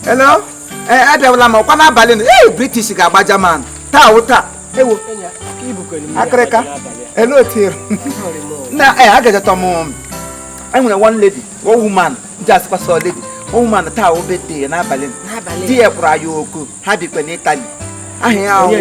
Hello? Ee, abịawala m ọkwa n'abalị na ee British ga-agba German taa wụ taa ewo akịrịka elu otiri na ee agajatọ m enwere one lady one woman ji asịkwa sọ lady one woman taa wụ birthday n'abalị di ya kuru ya oku ha bikwa n'Italy aha ya ahụ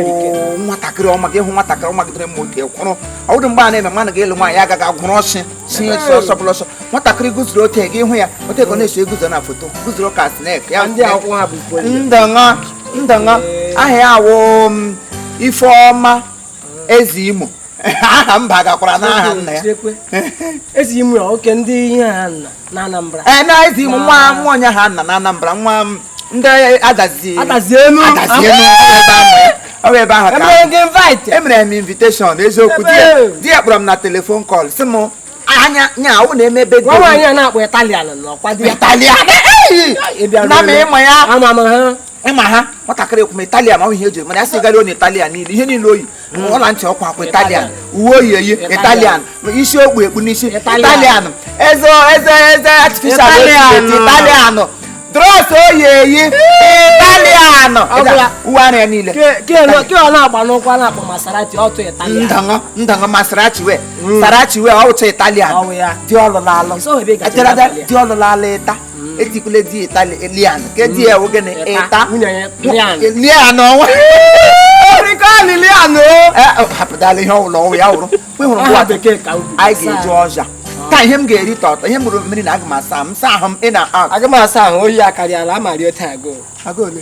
nwatakịrị ọma gị hụ nwatakịrị ọma gidere mma otu kwụrụ ọ wụdụ mgbe a na-eme mmadụ ga-elu nwaanyị agaghị agwụrụ ọsị si esi ọsọ bụla ọsọ nwatakịrị guzuru ote gị hụ ya ote ka ọ na-eso eguzo na foto guzuru ka snek ya ndọṅa ndọṅa aha ya awụ um, Ifeọma Ezeimo aha mba gakwara n'aha nna ya Ezeimo oke ndị ihe ha nna n'Anambra ee na Ezeimo nwa nwa onye ha nna n'Anambra nwa m ndị Adazi Adazi Enu Adazi Enu ebe ahụ ọ bụ ebe ahụ ka e mere gị invite emere m invitation eziokwu di ya Ebe. di ya kpọrọ m na telephone call sị m anya nya awụ na-eme birthday nwaanyị a na-akpọ Italian n'ọkwa di ya Italian Ị bịara na m elu. ịma ya ama m ha ịma ha nwatakịrị ekwume italian ọ ihe eji mana ya sị gari onye italian niile ihe niile o yi hmm. ọla ntị ọ kwa akwa italian uwe o yi eyi italian isi o kpu ekpu n'isi italian eze eze eze artificial italian drọs o yi eyi italian uwe ara ya niile ndanga masarachi wee hmm. sarachi wee ọ wụcha italian di ọ lụrụ alụ di ọ lụrụ alụ ịta hmm. etikwule di Italian ka di ya nwoke na Italian ọnwa rikọọlị lian o eh, oh, hapụtala ihe ọ wụla ọ wụ ya wụrụ kwe hụrụ ngwa anyị ga-eji ọja taa ihe m ga-eri tọtọ ihe mụrụ mmiri na aga m asa m saa ahụ m ị na aga m asa ahụ oyi akarịala ama rie taa agụụ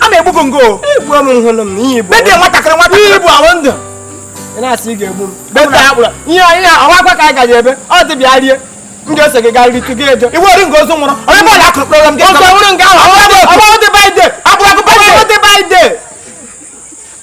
a na-egbu gị ngo egbu m hụrụ m ihe bụ nwatakịrị nwatakịrị ihe bụ ahụ ndụ ị na-asị ị ga-egbu m beta akpụrụ ihe anyị na-ahụ akwa ka anyị gaji ebe ọ dị bịa rie m ga-ese gị gaa ritu gị eje iwe ori nke ozu nwụrụ onye bụ ọla akụrụ kpọrọ m gị ọzọ nwụrụ nke ahụ ọgwụ dị birthday akpụrụ akụ birthday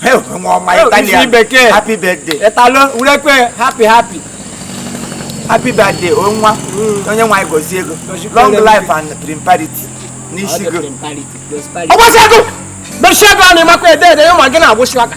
help nwa ọma Help, isi italian bekee. happy birthday ịtalụ urekwe happy happy happy birthday o nwa onye nwaanyị gozie ego Gozikwere long life and prosperity n'isi go ọgbasi ego mechie ego a na-emakwa ede ede ya ma gị na-agwụsị aka